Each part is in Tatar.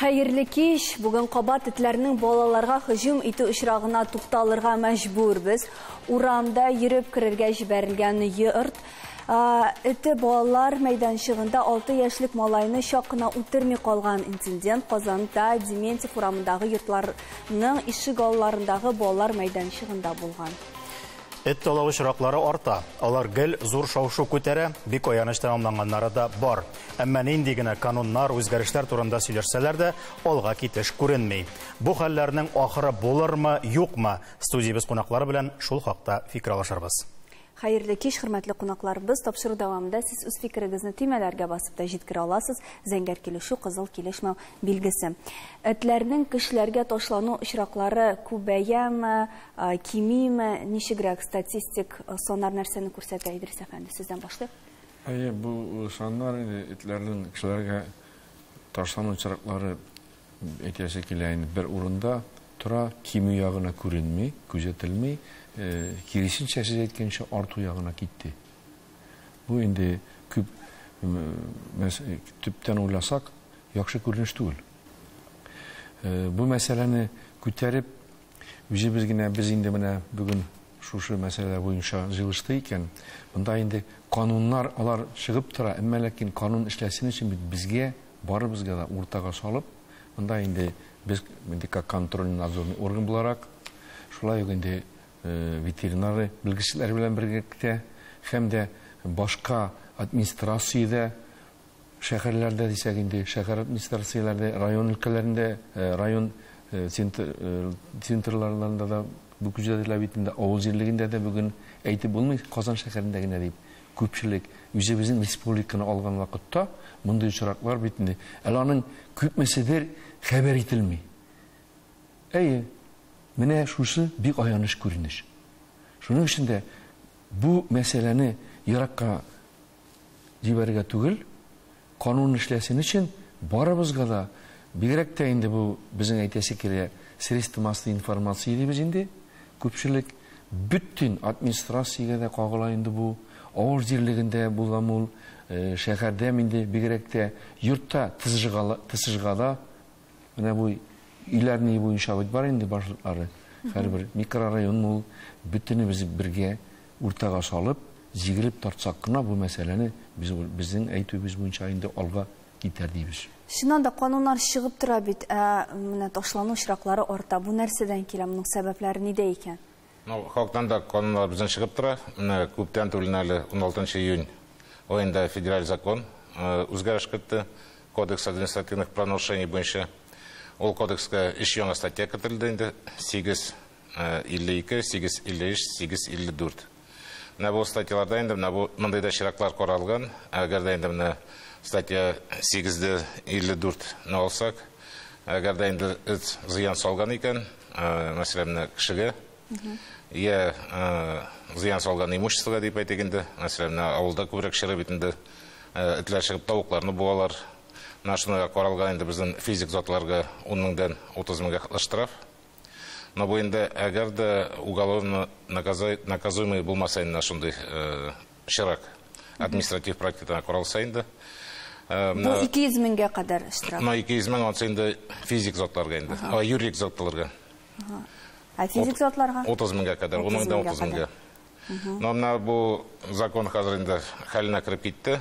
Хәерле кич. Бүген кабат этләрнең балаларга һөҗүм итү очрагына тукталырга мәҗбүрбез. Урамда йөреп керергә җибәрелгән йорт Эте балалар мәйданчыгында алты яшьлек малайны чак кына үтерми калган. Инцидент Казанда Дементьев урамындагы йортларның ишек алларындагы балалар мәйданчыгында булган. Эт талау очраклары арта. Алар гел зур шау-шу күтәрә, бик аяныч тәмамланганнары да бар. Әмма нинди генә кануннар, үзгәрешләр турында сөйләшсәләр дә, алга китеш күренми. Бу хәлләрнең ахыры булырмы, юкмы? Студиябез кунаклары белән шул хакта фикер алышырбыз. Хәерле кич, хөрмәтле кунаклар! Без тапшыру дәвамында сез үз фикерегезне төймәләргә басып та җиткерә аласыз. Зәңгәр килешү, кызыл килешмәү билгесе. Этләрнең кешеләргә ташлану очраклары күбәяме, кимиме, ничегрәк статистик саннар нәрсәне күрсәтә, Идрис әфәнде, сездән башлыйк. Әйе, бу саннар инде этләрнең кешеләргә ташлану очраклары Әйтәсе килә инде, бер урында тора, кимү ягына күренми, күзәтелми, киресенчә сез әйткәнчә арту ягына китте. Бу инде күп төптән уйласак, яхшы күренеш түгел. Бу мәсьәләне күтәреп, үзебез генә без инде менә бүген шушы мәсьәлә буенча җыелышты икән, монда инде кануннар алар чыгып тора, әмма ләкин канун эшләсен өчен бит безгә барыбызга да уртага салып, монда инде без инде как контрольный надзорный орган буларак, шулай ук инде ветеринары белгечләр белән бергәлектә һәм дә башка администрациядә шәһәрләрдә дисәк инде шәһәр администрацияләрдә район өлкәләрендә район центрларында да бу күзәтелә бит инде авыл җирлегендә дә бүген әйтеп булмый казан шәһәрендә генә дип Күпчелек үзебезнең республиканы алган вакытта мондый очраклар бит инде, әле аның күпмеседер хәбәр ителми. Әйе, менә шусы бик аяныч күренеш. Шуның өчен дә бу мәсьәләне еракка җибәрергә түгел, Канун эшләсен өчен барыбызга да, бигрәк тә инде бу безнең әйтәсе килә, средство массовой информации дибез инде, күпчелек, бөтен администрациягә дә кагыла инде бу, авыл җирлегендә булган ул, шәһәрдә инде бигрәк тә, йортта, тсжгада, Менә бу иләр ни буенча бит бар инде башлыклары. Һәрбер микрорайон ул бөтенебез бергә уртага салып, җигелеп тартсак кына бу мәсьәләне без безнең әйтүебез буенча инде алга китәр дибез. Чыннан да кануннар чыгып тора бит, ә менә ташлану очраклары арта. Бу нәрсәдән килә, моның сәбәпләре нидә икән? Ну, халыктан да кануннар безнең чыгып тора. Менә күптән түгел әле 16 июнь аенда федераль закон э, үзгәреш кертте. Кодекс административных правонарушений буенча. Ул кодекска өч яңа статья кертелде инде. 852, 853, 854. Менә бу статьяларда инде менә бу мондый да чираклар каралган. Әгәр дә инде менә статья 854-не алсак, әгәр дә инде эт зыян салган икән, мәсәлән, кешегә я зыян салган имуществога дип әйтик инде, мәсәлән, авылда күбрәк чыры бит инде этләр чыгып тавыкларны буалар. Менә шуны каралган инде безнең физик затларга 10 меңдән 30 меңгә хәтле штраф. Но бу инде әгәр дә уголовно наказуемый булмаса инде шундый Чирак. Административ практикадан коралса инде. Э, Бу 200 меңгә кадәр штраф. Мына 200 мең ансы инде физик затларга инде. А юридик затларга. Ә физик затларга? 30 меңгә кадәр, 10 меңдән 30 меңгә. Мына бу закон хәзер инде хәленә кереп китте.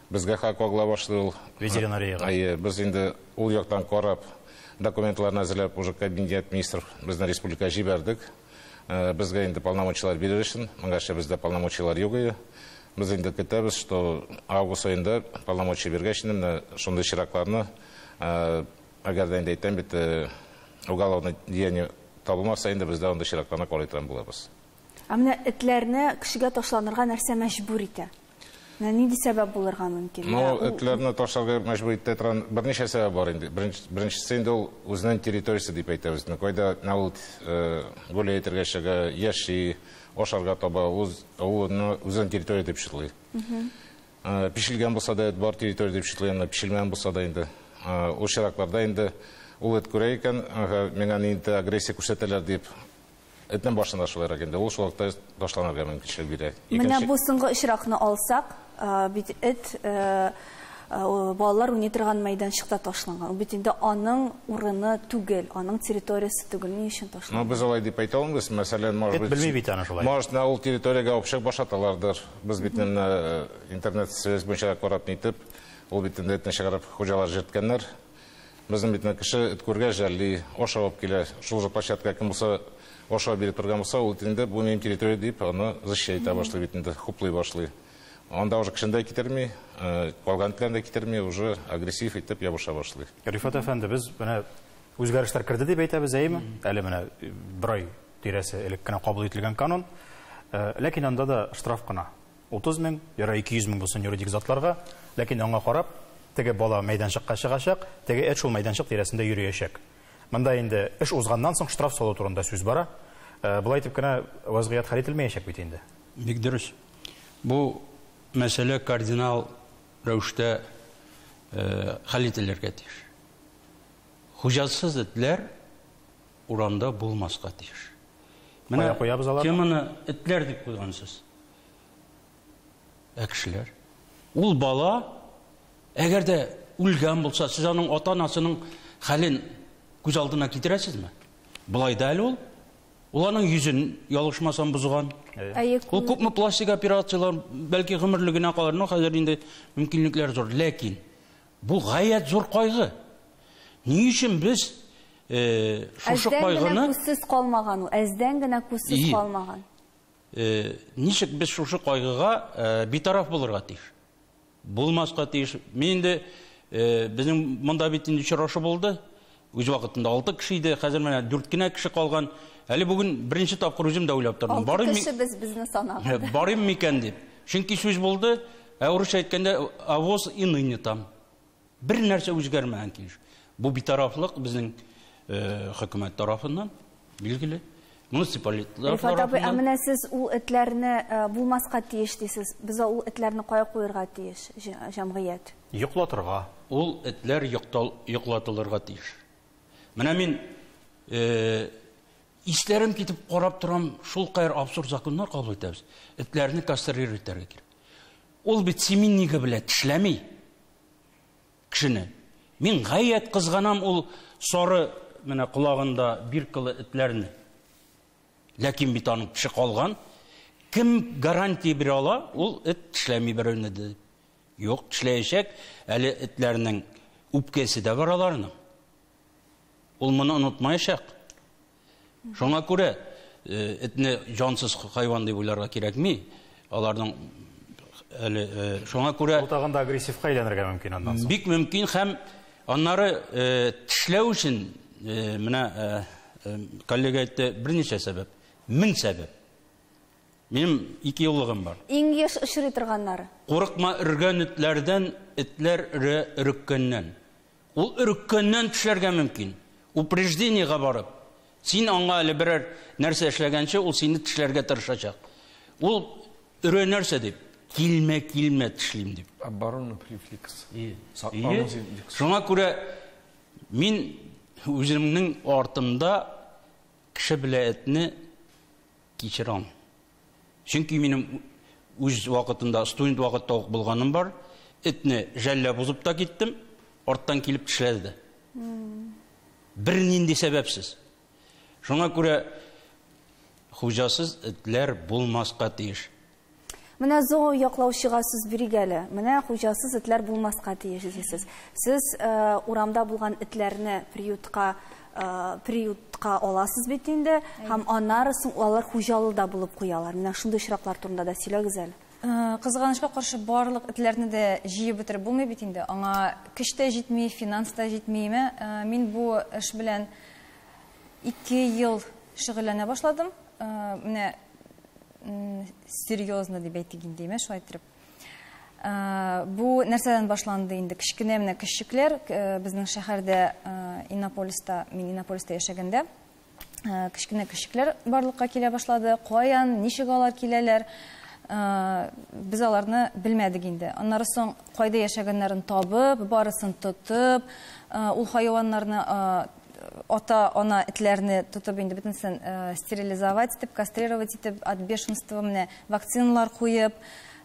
Безгә хак кагыла башлый ул. Ветеринариягә. Әйе, без инде ул яктан карап, документларын әзерләп, уже кабинет министр безнең республика җибәрдек. Э, безгә инде полномочияләр бирер өчен, моңарчы бездә полномочияләр юк иде. Без инде көтәбез, что август айында полномочия биргәч, инде менә шундый чиракларны, э, әгәр дә инде әйтәм бит, э, уголовное деяние табылмаса, инде бездә андый чиракларны карый торган булабыз. Ә менә этләрне кешегә ташланырга нәрсә мәҗбүр итә? Менә нинди сәбәп булырга мөмкин? Ну, этләрне ташларга мәҗбүр итә торган берничә сәбәп бар инде. Беренчесе инде ул үзенең территориясе дип әйтәбез. Ну, кайда на ул э, гөле әйтергә чыга, яши, ашарга таба, үз авылны үзенең территория дип чытлый. Э, пешелгән булса да, бар территория дип чытлый, аны пешелмәгән булса да инде. Э, ул чиракларда инде ул эт күрә икән, миңа нинди агрессия күрсәтәләр дип, Этнең башына да шулайрак инде, ул шул вакытта ташланырга мөмкинчелек бирә. Менә бу соңгы очракны алсак, бит эт балалар уйный торган мәйданчыкта ташланган. Ул бит инде аның урыны түгел, аның территориясе түгел, ни өчен ташланган? Ну, без алай дип әйтә алмыйбыз, мәсәлән, может быть... Эт белми бит аны шулай. Может, ул территориягә овчык баш аталардыр. Без бит интернет-связь буенча карап нитеп, ул бит инде этне чыгарып хуҗалар җерткәннәр. Безнең битне кеше эт күргәч жәлли, аш алып килә. Шул же площадка кем булса аша биреп торган булса, ул инде бу минем территория дип аны защищать итә башлый бит инде, хуплый башлый. Анда уже кешене дә китерми, калган этләрне дә китерми, уже агрессив итеп ябыша башлый. Рифат әфәнде, без менә үзгәрешләр керде дип әйтәбез, әйеме? Әле менә бер ай тирәсе элек кенә кабул ителгән канун. Ләкин анда да штраф кына. Утыз мең, ярар, ике йөз мең булсын юридик затларга, ләкин аңа карап, теге бала мәйданчыкка чыгачак, теге эт шул мәйданчык тирәсендә йөриячәк. Монда инде эш узганнан соң штраф салу турында сүз бара. Болай итеп кенә вазгыять хәл ителмәячәк бит инде. Бик дөрес. Бу мәсьәлә кардинал рәвештә хәл ителергә тиеш. Хуҗасыз этләр Урамда булмаска тиеш. Менә куябыз алар. Кем аны этләр дип куйган сез? Ә кешеләр? Ул бала әгәр дә үлгән булса, сез аның ата-анасының хәлен күз алдына китерәсезме? Былай да әле ул Ул аның йөзен ялгышмасам бозган. Ул күпме пластик операцияләр, бәлки гомерлегенә калыр, но хәзер инде мөмкинлекләр зур. Ләкин Бу гаять зур кайгы. Ни өчен без шушы кайгыны... Әздән генә күзсез калмаган ул, әздән генә күзсез калмаган. Ничек без шушы кайгыга битараф булырга тиеш? Булмаска тиеш. Мин инде, безнең монда бит инде очрашу булды. Үз вакытында алты кеше иде, хәзер менә дүрт кенә кеше калган. Әле бүген беренче тапкыр үзем дә уйлап тордым. Алты кеше без безне санады. Барыйм микән дип. Чөнки сүз булды, ә урысча әйткәндә авоз и ныне там. Бер нәрсә үзгәрмәгән килеш. Бу битарафлык безнең э, хөкүмәт тарафыннан. Билгеле. Муниципалитлар Рифат абый, ә тарафыннан менә сез ул этләрне э, булмаска тиеш дисез. Без ул этләрне кая куерга тиеш, җә- җәмгыять? Йоклатырга. ул этләр йоктал- йоклатылырга тиеш. Менә мин э, исләрем китеп карап торам, шул кадәр абсурд законнар кабул итәбез. Этләрне кастрировать итәргә кирәк. Ул бит семиннига белән тешләми. Кешене. Мин гаять кызганам ул сары менә колагында биркалы этләрне. Ләкин бит аның теше калган. Кем гарантия бирә ала, ул эт тешләми берәүне дә. Юк, тешләячәк. Әле этләрнең үпкәсе дә бар аларның. Ул моны онытмаячак. Шуңа күрә этне җансыз хайван дип уйларга кирәкми. Аларның әле шуңа күрә Ул тагын да агрессивка әйләнергә мөмкин аннан соң. Бик мөмкин һәм аннары тешләү өчен менә коллега әйтте, берничә сәбәп, мең сәбәп. Минем ике юллыгым бар. Иң еш очрый торганнары. Курыкма өргән этләрдән, этләр өрә өреккәннән. Ул өреккәннән тешләргә мөмкин. Упреждениегә барып, син аңа әле берәр нәрсә эшләгәнче, ул сине тешләргә тырышачак. Ул өрә нәрсә дип? Килмә, килмә, тешлим дип. Оборона префикс. Шуңа күрә мин үземнең артымда кеше белә этне кичерам. Чөнки минем үз вакытында, студент вакытта ук булганым бар. Этне жәлләп узып та киттем, арттан килеп тешләде дә. Бер нинди сәбәпсез. Шуңа күрә хуҗасыз этләр булмаска тиеш. Менә зоо яклаучыга сүз бирик әле. Менә хуҗасыз этләр булмаска тиеш дисез. Сез э, урамда булган этләрне приютка приютка аласыз бит инде һәм аннары соң алар хуҗалы да булып куялар менә шундый очраклар турында да сөйләгез әле Э, кызганычка каршы барлык этләрне дә җыеп бетереп булмый бит инде аңа көч тә җитми финанс та җитмиме э, мин бу эш белән ике ел шөгыльләнә башладым э, менә серьезно дип әйтик инде шулай итеп Бу нәрсәдән башланды инде? Кечкенә менә кешчекләр безнең шәһәрдә Иннополиста, мин Иннополиста яшәгәндә, кечкенә кешчекләр барлыкка килә башлады. Каян, ничек алар киләләр? Без аларны белмәдек инде. Аннары соң кайда яшәгәннәрен табып, барысын тотып, ул хайваннарны ата, ана этләрне тотып инде бөтенсен э, стерилизовать итеп, кастрировать итеп, от бешенства менә вакциналар куеп,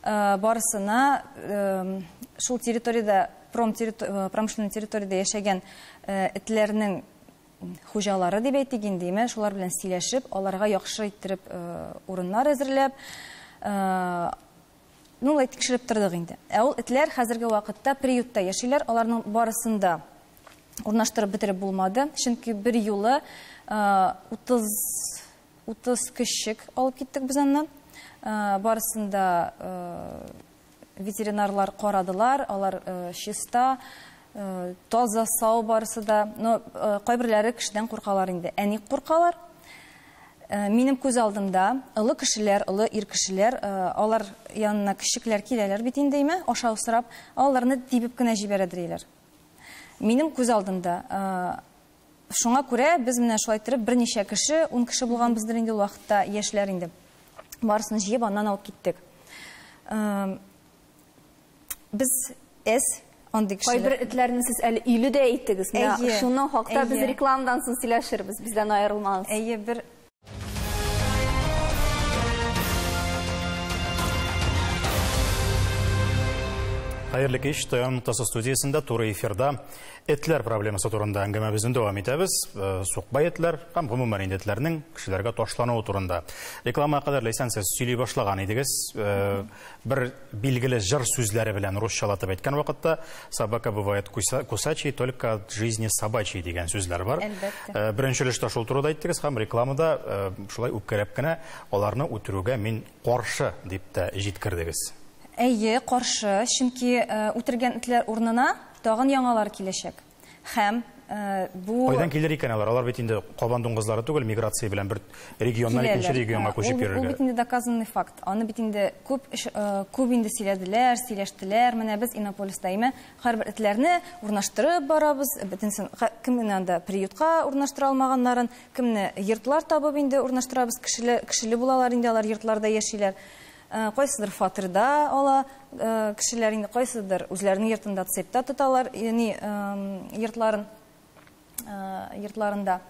э, барысына э, шул территориядә пром э, промышленный территориядә яшәгән э, этләрнең хуҗалары дип әйтик инде, имә, шулар белән сөйләшеп, аларга яхшы иттереп э, урыннар әзерләп, э, ну, лай тикшереп тордык инде. Ә ул этләр хәзерге вакытта приютта яшиләр, аларның барысында урнаштырып бетереп булмады, чөнки бер юлы 30 30 кешек алып киттек без аны. Барысын да ветеринарлар карадылар, алар чиста, таза, сау барысы да. Но кайберләре кешедән куркалар инде. Ә ник куркалар? Минем күз алдымда олы кешеләр, олы ир кешеләр, алар янына кешекләр киләләр бит инде, әйме, ашау сорап, аларны тибеп кенә җибәрә диләр. Минем күз алдында. Шуңа күрә без менә шулай торып берничә кеше, ун кеше булганбыздыр инде ул вакытта, яшьләр инде. Барысын җыеп аннан алып киттек. Без эс андый кешеләр. Кайбер этләрне сез әле иле дә әйттегез. Менә шуның хакта без рекламадан соң сөйләшербез. Бездән аерылмагыз. Әйе, бер Хәерле кич, Таян Мутасы студиясендә туры эфирда этләр проблемасы турында әңгәмәбезне дәвам итәбез. Э, Сукбай этләр һәм гомумән инде этләрнең кешеләргә ташлануы турында. Рекламага кадәр Ләйсән сез сөйли башлаган идегез. Э, бер Билгеле җыр сүзләре белән русчалатып әйткән вакытта собака бывает кусачий только от жизни собачий дигән сүзләр бар. Әлбәттә. Э, беренче өлештә шул турыда әйттегез һәм рекламада э, шулай үпкәләп кенә аларны үтерүгә мин каршы дип тә җиткердегез. Әйе, каршы, чөнки э, үтергән этләр урнына тагын яңалар киләчәк. Һәм бу Кайдан килер икән алар? Алар бит инде кабан дуңгызлары түгел, миграция белән бер регионнан икенче регионга күчеп йөрергә. Ул бит инде доказанный факт. Аны бит инде күп күп инде сөйләделәр, сөйләштеләр. Менә без Иннополис даимә һәрбер этләрне урнаштырып барабыз. Бөтенсен кемне анда приютка урнаштыра алмаганнарын, кемне йортлар табып инде урнаштырабыз. Кешеле кешеле булалар инде алар йортларда яшиләр. Кайсыдыр фатирда ала кешеләр, инде кайсыдыр үзләренең йортында, цепьта тоталар, яни йортларын, йортларында.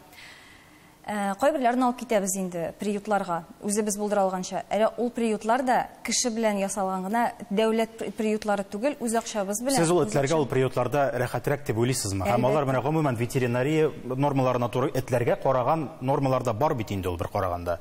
Кайберләрен алып китәбез инде приютларга, үзебез булдыра алганча. Әле ул приютлар да кеше белән ясалган гына, дәүләт приютлары түгел, үз акчабыз белән. Сез ул этләргә ул приютларда рәхәтрәк дип уйлыйсызмы? Һәм алар менә гомумән ветеринария нормаларына туры этләргә караган нормалар да бар бит инде ул бер караганда.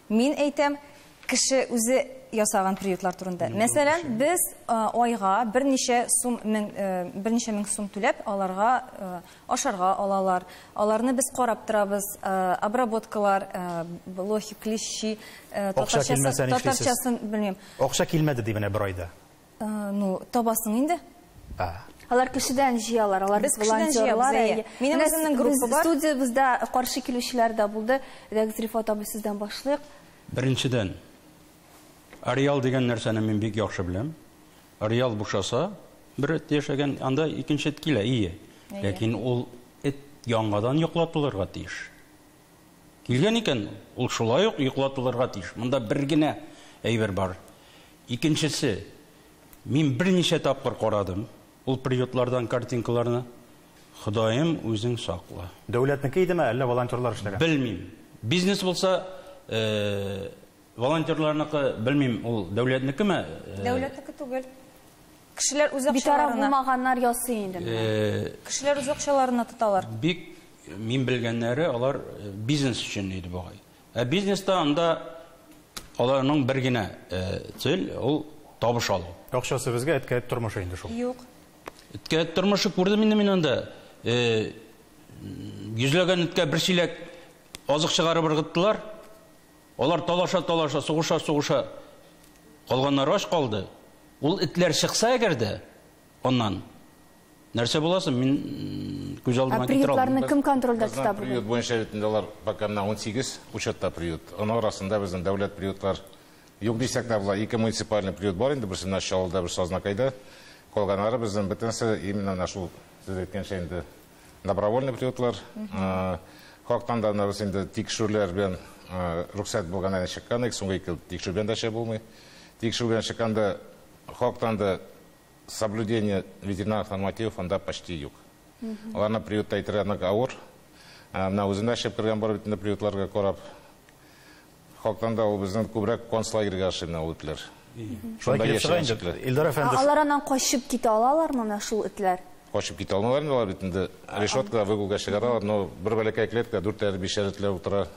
Мин әйтәм, кеше үзе ясаган приютлар турында. Мәсәлән, без айга берничә сум мең, берничә мең сум түләп, аларга ашарга алалар. Аларны без карап торабыз, обработкалар, блохи, клещи, татарчасын белмим. Акча килмәде ди менә бер айда. Ну, табасың инде. А. Алар кешедән җыялар, алар Без кешедән җыябыз, әйе. Минем үземнең группа бар. Студиябездә каршы килүчеләр дә булды. Әйдәгез, Рифат абый, сездән башлыйк. Беренчедән, ареал дигән нәрсәне мин бик яхшы беләм. Ареал бушаса, бер эт яшәгән, анда икенче эт килә, ие. Ләкин ул эт яңадан йоклап булырга тиеш. Килгән икән, ул шулай ук йоклатылырга тиеш. Монда бер генә әйбер бар. Икенчесе, мин берничә тапкыр карадым ул приютлардан картинкаларны. Ходаем, үзең сакла. Дәүләтнеке идеме, әллә волонтерлар эшләгән? Белмим. Бизнес булса, э-э. Волонтерларныкы, белмим, ул дәүләтнекеме? Дәүләтнеке түгел. Кешеләр үз акчаларына. Битараф булмаганнар ясый инде моны. Кешеләр үз акчаларына тоталар. Бик мин белгәннәре, алар бизнес өчен иде бугай. Ә бизнеста анда аларның бер генә цель, ул табыш алу. Акчасы безгә әткәй тормышы инде шул. Юк. Эткә тормышы күрдем инде мин анда. Йөзләгән эткә бер чиләк азык чыгарып ыргыттылар. Алар талаша-талаша, сугыша-сугыша калганнары ач калды. Ул этләр чыкса әгәр дә аннан, нәрсә була соң, мин күз алдыма китерә алмыйм. Ә приютларны кем контрольдә тота бүген? Безнең приют буенча бит инде алар пока менә 18 учетта приют. Аның арасында безнең дәүләт приютлар юк дисәк тә була. Ике муниципальный приют бар инде, берсе менә Чаллыда, берсе Азнакайда. Калганнары безнең бөтенесе именно менә шул, сез әйткәнчә инде, Добровольный приютлар, хактан да анабыз инде тикшүрләр белән рөхсәт булганнан чыккан, ик соңгы ике тикшү белән дә шәй булмый. Тикшү белән чыкканда хактан да соблюдение ветеринарных нормативов анда почти юк. Аларны приютта әйтергә нык авыр. Менә үзем дә шәп кергән бар бит инде приютларга карап. Халыктан да ул безнең күбрәк концлагерьга ошый менә ул этләр. Шунда яшәгән чикләр. Илдар әфәнде. Ә алар аннан качып китә алалармы менә шул этләр? Качып китә алмыйлар инде алар бит инде решеткага, выгулга чыгара алар, но бер бәләкәй клетка, дүртәр, бишәр этләр утыра.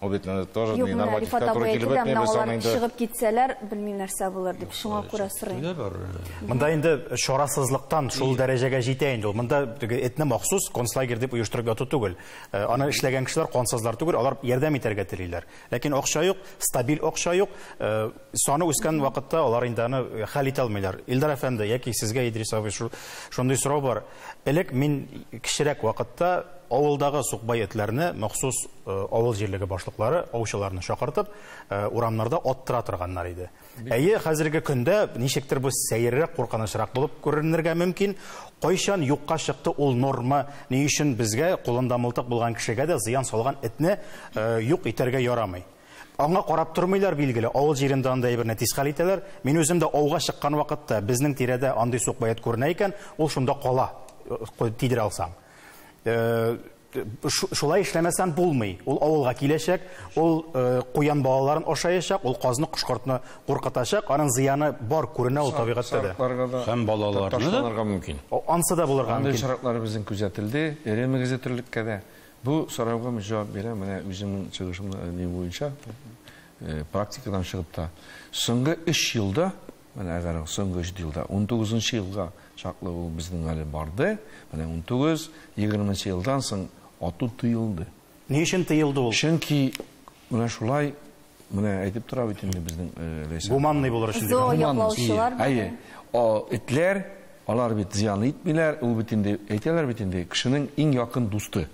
Ул бит инде тоже ни нормативка туры килеп бетми, без аны инде. Чыгып китсәләр, белмим нәрсә булыр дип, шуңа күрә сорыйм. Монда инде чарасызлыктан шул дәрәҗәгә җитә инде ул. Монда теге этне махсус концлагерь дип оештырып яту түгел. Э, аны эшләгән кешеләр кансызлар түгел, алар ярдәм итәргә телиләр. Ләкин акча юк, стабиль акча юк. Э, саны үскән вакытта алар инде аны э, хәл итә алмыйлар. Илдар әфәнде, яки сезгә Идрис абый шундый сорау бар. Элек мин кечерәк вакытта авылдагы сукбай этләрне махсус авыл җирлеге башлыклары аучыларны чакыртып, урамнарда аттыра торганнар иде. Әйе, хәзерге көндә ничектер бу сәеррәк, куркынычрак булып күренергә мөмкин. Кайчан юкка чыкты ул норма? Ни өчен безгә кулында мылтык булган кешегә дә зыян салган этне э, юк итәргә ярамый? Аңа карап тормыйлар, билгеле, авыл җирендә анда әйберне тиз хәл итәләр. Мин үзем дә ауга чыккан вакытта безнең тирәдә андый сукбаят күренә икән, ул шунда кала, э, тидерә алсаң. Э, Шулай эшләмәсәм булмый. Ул авылга киләчәк, ул э, куян балаларын ашаячак, ул казны, кошкортны куркытачак. Аның зыяны бар күренә ул табигатьтә дә. Һәм балаларны ташланырга мөмкин. Ансы да булырга мөмкин. Андый очраклар безнең күзәтелде, эре мөгезле терлеккә дә. Бу сорауга мин җавап бирәм, менә үземнең чыгышымны ни буенча э, практикадан чыгып та. Соңгы 3 елда Менә әгәр соңгы өч елда, унтугызынчы елга чаклы ул безнең әле барды, менә унтугыз, егерменче елдан соң ату тыелды. Ни өчен тыелды ул? Чөнки менә шулай, менә әйтеп тора бит инде безнең Ләйсән. Гуманный булыр өчен дип. Зоояклаучылар. Әйе. Этләр, алар бит зыян итмиләр, ул бит инде әйтәләр бит инде, кешенең иң якын дусты.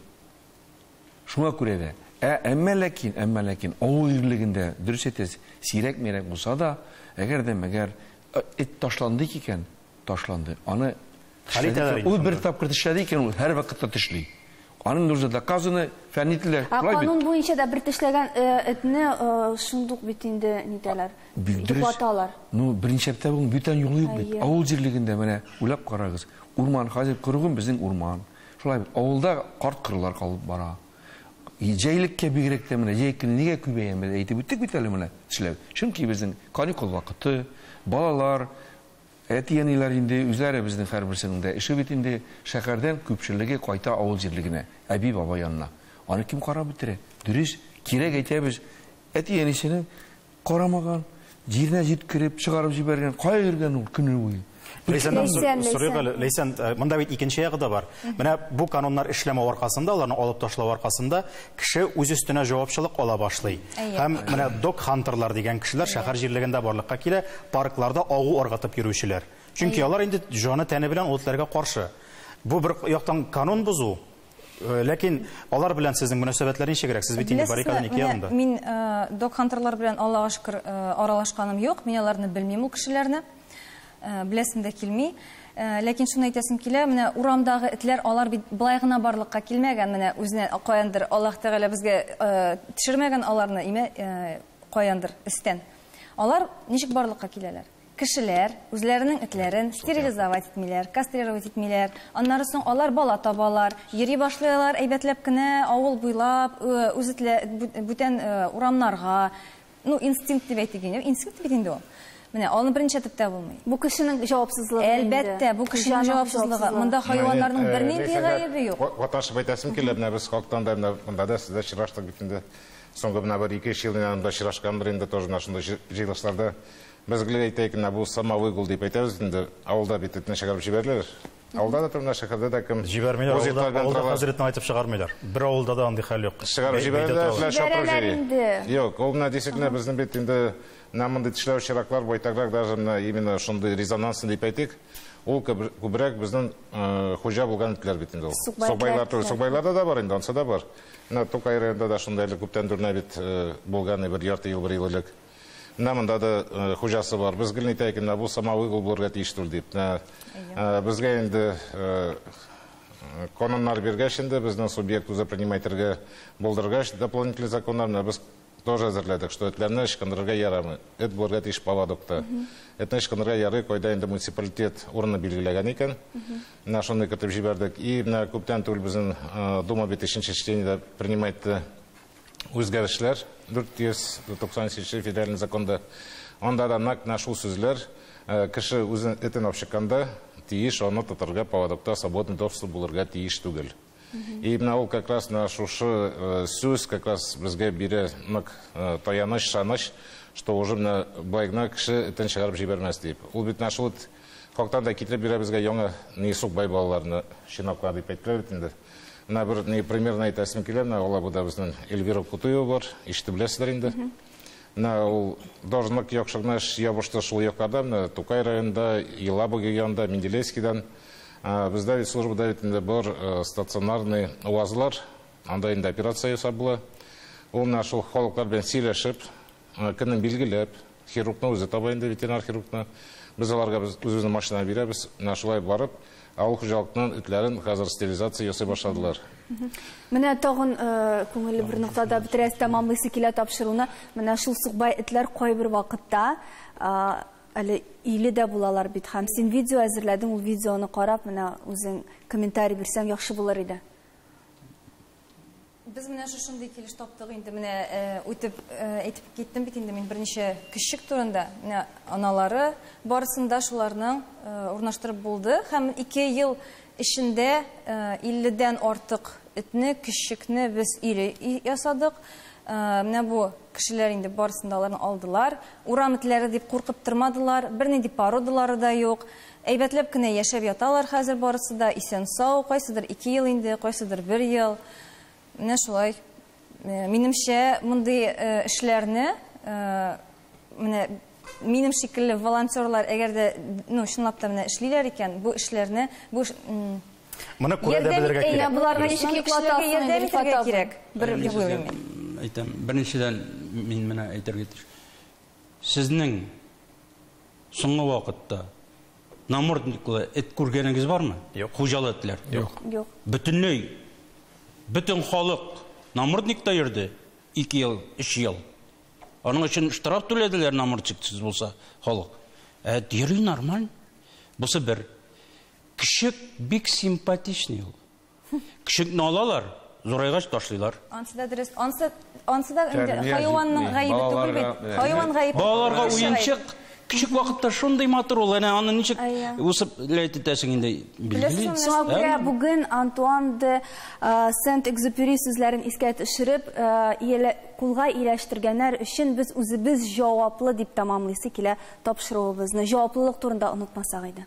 Шуңа күрә дә. Ә, әмма ләкин, әмма ләкин, авыл ирлегендә, дөрес әйтәсез, сирәк-мирәк булса да, әгәр дә мәгәр эт ташландык икән, ташланды. Аны тешләдек. Ул бер тапкыр тешләде икән, ул һәрвакытта тешли. Аның нужно доказаны, фәнни телләр. Ә канун буенча да бер тешләгән этне шундук бит инде нитәләр, йоклаталар. Ну, беренче әптә бүген бүтән юлы юк бит. Авыл җирлегендә менә уйлап карагыз. Урман хәзер кыргын безнең урман. Шулай бит, авылда карт-корылар калып бара. Җәйлеккә бигрәк тә менә җәй көне нигә күбәя, без әйтеп үттек бит әле менә, эшләү. Чөнки безнең каникул вакыты, балалар, әти-әниләр инде үзләре безнең һәрберсенең дә эше бит инде, шәһәрдән күпчелеге кайта авыл җирлегенә, әби-бабай янына. Аны кем карап бетерә? Дөрес, кирәк әйтәбез, Әти-әнисенең карамаган, җиренә җиткереп, чыгарып җибәргән, кая йөргән ул көне буе? Ләйсәннән сорыйк әле. Ләйсән, э, монда бит икенче ягы да бар. Менә бу кануннар эшләмәү аркасында, аларны алып ташлау аркасында кеше үз өстенә җавапчылык ала башлый. Һәм менә док-хантерлар дигән кешеләр шәһәр җирлегендә барлыкка килә, паркларда агу ыргытып йөрүчеләр. Чөнки алар инде җаны-тәне белән ул этләргә каршы. Бу бер яктан канун бозу, Э, ләкин алар белән сезнең мөнәсәбәтләр ничегрәк? Сез бит инде баррикада ник янында. Мин э, док хантерлар белән Аллага шөкер э, аралашканым юк. Мин аларны белмим ул кешеләрне. Беләсем дә килми. Ләкин шуны әйтәсем килә, менә урамдагы этләр алар бит былай гына барлыкка килмәгән, менә үзенә каяндыр Аллаһ Тәгалә безгә төшермәгән аларны, имә каяндыр истән. Алар ничек барлыкка киләләр? Кешеләр үзләренең этләрен стерилизовать итмиләр, кастрировать итмиләр. Аннары соң алар бала табалар, йөри башлый алар әйбәтләп кенә авыл буйлап, үз этлә, бүтән урамнарга. Ну, инстинкт дип әйтик инде. Инстинкт бит инде ул. Менә аны беренче әйтеп тә булмый. Бу кешенең җавапсызлыгы инде. Әлбәттә, бу кешенең җавапсызлыгы. Монда хайваннарның бернинди гаебе юк. Ваташып әйтәсем килә, менә без халыктан да, менә монда да сездә очраштык бит инде. Соңгы менә бер ике-өч ел мин анда очрашканбыр инде, тоже менә шундый җыелышларда. Без гел әйтәек, менә бу сама выгул дип әйтәбез инде, авылда бит этне чыгарып җибәрәләр. Авылда да торган, шәһәрдә дә кем. Җибәрмиләр, авылда, авылда хәзер этне айтып чыгармыйлар. Бер авылда да андый хәл юк. Чыгарып җибәрәләр, белән шапырып җөри. Юк, ул менә действительно безнең бит инде менә мондый тешләү чираклар байтаграк даже менә именно шундый резонансный дип әйтик. Ул күбрәк безнең э, хуҗа булган итләр бит инде ул. Сукбайлар түгел, сукбайларда да бар инде, ансы да бар. Менә Тукай районында да шундый әле күптән дүрнә бит э, булган бер ярты ел, бер ел элек. Менә монда да э, хуҗасы бар. Без гел әйтәйек, менә бу сама угол булырга тиеш түгел дип. Менә э, безгә инде э, кононнар биргәч инде безнең субъект үзе принимать итәргә булдыргач дополнительный законнар менә без тоже әзерләдек, что этләрне ычкындырырга ярамый. Эт булырга тиеш поводокта. Этне ычкындырырга ярый, кайда инде муниципалитет урыны билгеләгән икән. Менә шуны кертеп җибәрдек. И менә күптән түгел безнең Дума бит өченче чтениедә принимать итте. үзгәрешләр 490 нче федераль законда. Анда да нәкъ менә шул сүзләр э, кеше үзен этен алып чыкканда тиеш аны тотарга поводокта свободный доступ булырга тиеш түгел. И менә ул как раз на шушы э, сүз как раз безгә бирә нык э, таяныч, шаныч, что уже менә былай гына кеше этен чыгарып җибәрмәс дип. Ул бит менә шул Халыктан да китереп бирә безгә яңа ни сукбай балаларны чинапка дип әйттеләр бит инде. Менә бер ни примерно әйтәсем килә, менә Алабуда безнең Эльвира Кутуева бар, ишетеп беләсездер инде. Менә ул должник яхшы гына эш ябышты шул якларда, менә Тукай районында, Елаба янында, Менделеевскидан. Бездә бит службада бит инде бар э, стационарный УАЗлар, анда инде операция ясап була. Ул менә шул халыклар белән сөйләшеп, Көнен билгеләп, хирургны үзе таба инде, ветеринар хирургны. Без аларга без үзебезнең машина бирәбез. Менә шулай барып, авыл хуҗалыкның этләрен хәзер стерилизация ясый башладылар. Менә тагын күңелле бер ноктада бетерәс тәмамлыйсы килә тапшыруны. Менә шул сукбай этләр кайбер вакытта әле иле дә булалар бит һәм син видео әзерләдең, ул видеоны карап, менә үзең комментарий бирсәң яхшы булыр иде. Без менә шушындый килеш таптык инде, менә үтеп әйтеп киттем бит инде мин берничә кешек турында. Менә аналары барысында шуларның урнаштырып булды һәм ике ел эчендә 50-дән артык этне, кешекне без ире ясадык. Менә бу кешеләр инде барысында аларны алдылар. Урам итләре дип куркып тормадылар, бернинди породалары да юк. Әйбәтләп кенә яшәп яталар хәзер барысы да, исән-сау, кайсыдыр ике ел инде, кайсыдыр бер ел. Менә шулай. Минемчә, мондый эшләрне, менә минем шикелле волонтерлар, әгәр дә, ну, чынлап та менә эшлиләр икән, бу эшләрне, бу Моны күрә дә белергә кирәк. Ярдәм, боларга ничек йоклатасың, ярдәм итәргә кирәк. Бер дип уйлыйм мин. Әйтәм, беренчедән, мин менә әйтергә тиеш. Сезнең Соңгы вакытта намордниклы эт күргәнегез бармы? Юк. Хуҗалы этләр. Юк. Юк. Бөтенләй бөтен халык намордникта йөрде 2 ел, 3 ел. Аның өчен штраф түләделәр намордниксыз булса халык. Ә йөри нормаль. Бусы бер. Кеше бик симпатичный ул. Кешекне алалар, зурайгач ташлыйлар. Ансы да дөрес. Ансы ансы да инде Тәрбия хайванның җитми. гаебе түгел Балаларга, бит. менә, Хайван гаебе. түгел, Балаларга кеше гаебе. уенчык. Кичек вакытта шундый матур ул, әнә аны ничек Әйе. үсеп ләйт итәсең инде билгели. Беләсеңме? Шуңа күрә Әмма- бүген Антуан де э, Сент-Экзюпери сүзләрен искә төшереп, э, иялә- кулга ияләштергәннәр өчен без үзебез җаваплы дип тәмамлыйсы килә тапшыруыбызны. Җаваплылык турында онытмасак иде.